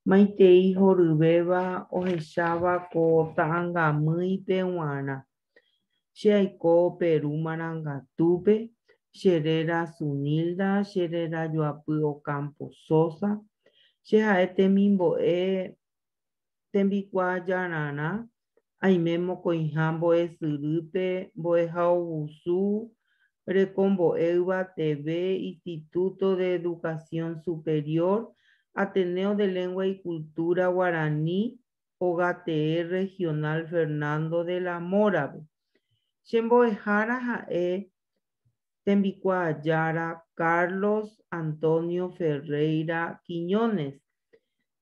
Maitei horyvéva ohecháva ko ta'ãngamýipe g̃uarã. Che aiko Peru marangatúpe, che réra Sunilda, che réra Joapy Ocampo Sosa, che ha'e temimbo'e tembikuaajararã, aime mokõiha mbo'esyrýpe, mbo'ehaovusu, rekombo'e yvateve, Instituto de Educación Superior, Ateneo de Lengua y Cultura Guarani, Ogatee Regional Fernando de la Mora-pe. Che mbo'ehára ha'e tembikuaa jára Carlos Antonio Ferreira Quiñones,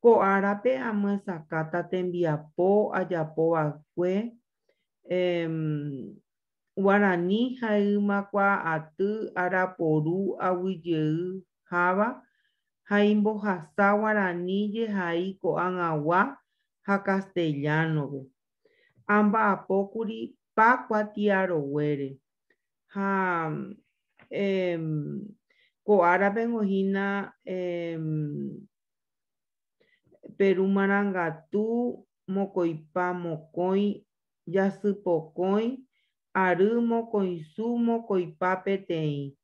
Ko árape amyesakãta tembiapo ajapova'ekue Guarani ha'ỹma kuaaty araporu aguyjeyháva ha imbohasa Guarani jehai ko'ag̃agua ha castellano-pe. Amba'apókuri Pacua Tiaroguére. ha ko árape oĩhína Peru marangatu, mokoipa mokõi, jasy pokõi, ary mokõisu, mokoipa peteĩ,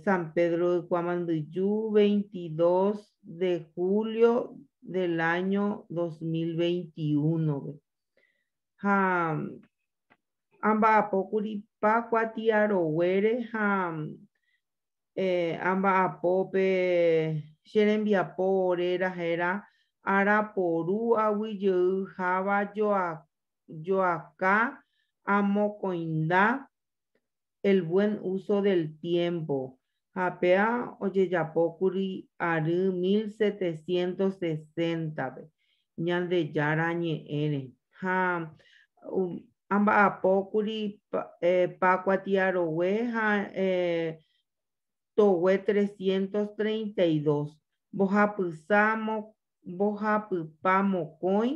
San Pedro Ykuã Mandyju, 22 de julio del año 2021-pe. Ha amba'apókuri Pákua tiaroguére ha amba'apo pe che rembiapo réra héra araporu aguyjeyháva joakã amokõinda el buen uso del tiempo, ha péva ojejapókuri ary 1760-pe Ñandejára Ñe'ẽre, ha amba'apókuri Pákua Tiarogue ha Togue 332, mbohapypa mokõi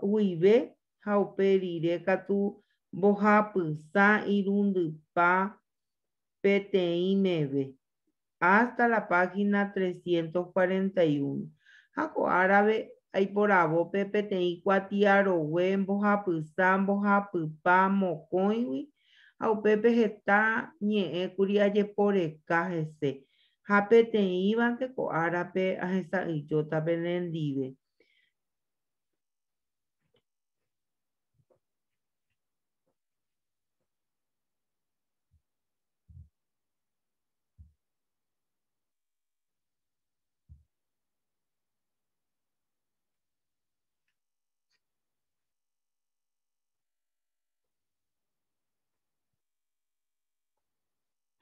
guive ha upe rire katu mbohapysã irundypa peteĩ meve, hasta la página trescientos cuarenta y uno. Ha ko árape aiporavo pe peteĩ kuatiarogue mbohapysã mbohapypa mokõigui, ha upépe heta ñe'ẽ kuri ajeporeka hese, ha peteĩvante ko árape ahesa'ỹijóta penendive.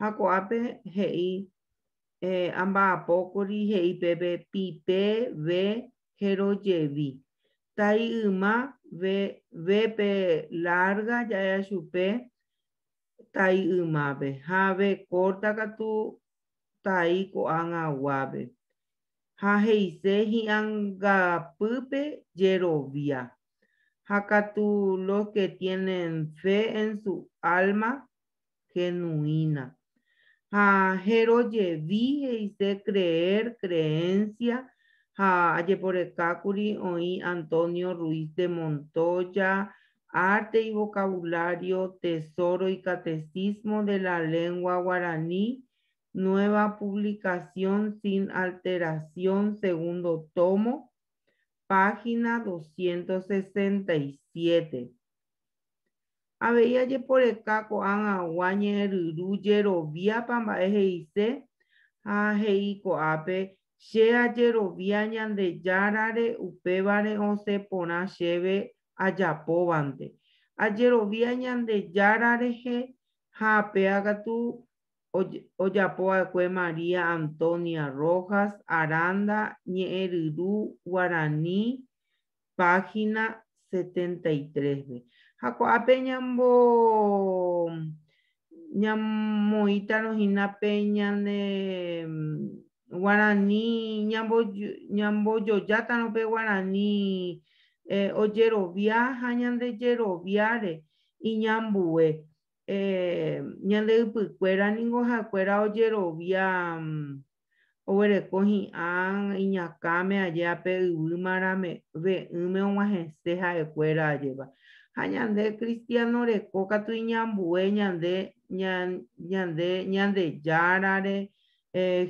Ha ko'ápe he'i eh, amba'apókuri he'i pépe pite, ve, jerojevi. Tai yma vépe lárga jaja chupe tai ymápe ha ve kórta katu tai ko'ag̃aguápe. Ha he'ise hi'angapýpe jerovia. Ha katu los que tienen fe en su alma genuína, ha jerojevi he'ise creer, creencia, ha ajeporekákuri oĩ Antonio Ruiz de Montoya, Arte y vocabulario, Tesoro y catecismo de la lengua guaraní, nueva publicación sin alteración, segundo tomo, página 267. Avei ajeporeka ko'ag̃agua ñe'ẽryru jeroviápa mba'e he'ise ha he'i ko'ápe, Che ajerovia Ñandejárare upévare osẽ porã chéve ajapóvante. Ajerovia Ñandejára rehe ha péva katu ojapova'ekue María Antonia Rojas Aranda ñe'ẽryru guarani página 73-pe. Ha ko'ápe ñambo ñamoĩtarõ hína pe ñane mm, guarani ñambo ñambojojátarõ pe guarani eh, ojerovia ha ñande jeroviáre iñambue eh, ñande ypykuéra ningo ha'ekuéra ojerovia mm, oguereko hi'ã iñakãme ajéa pe yvy marave'ỹme og̃uahẽse ha'ekuéra ajéva. Ha ñande kristiáno reko katu iñambue ñande ñande Ñandejárare,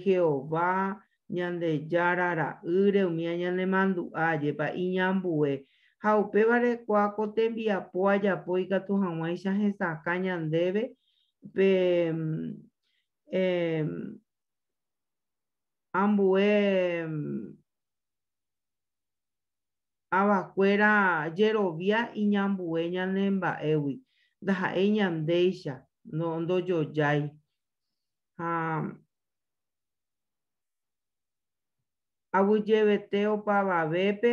Jehová, Ñandejára Ra'ýre, umíva ñanemandu'a ajépa iñambue. Ha upévare kua ko tembiapo ajapo ikatu hag̃uáicha hesakã ñandéve pe ambue avakuéra jerovia iñambue ñane mba'égui, ndaha'éi ñandéicha, ndojojái. Ha aguyjevete opavavépe,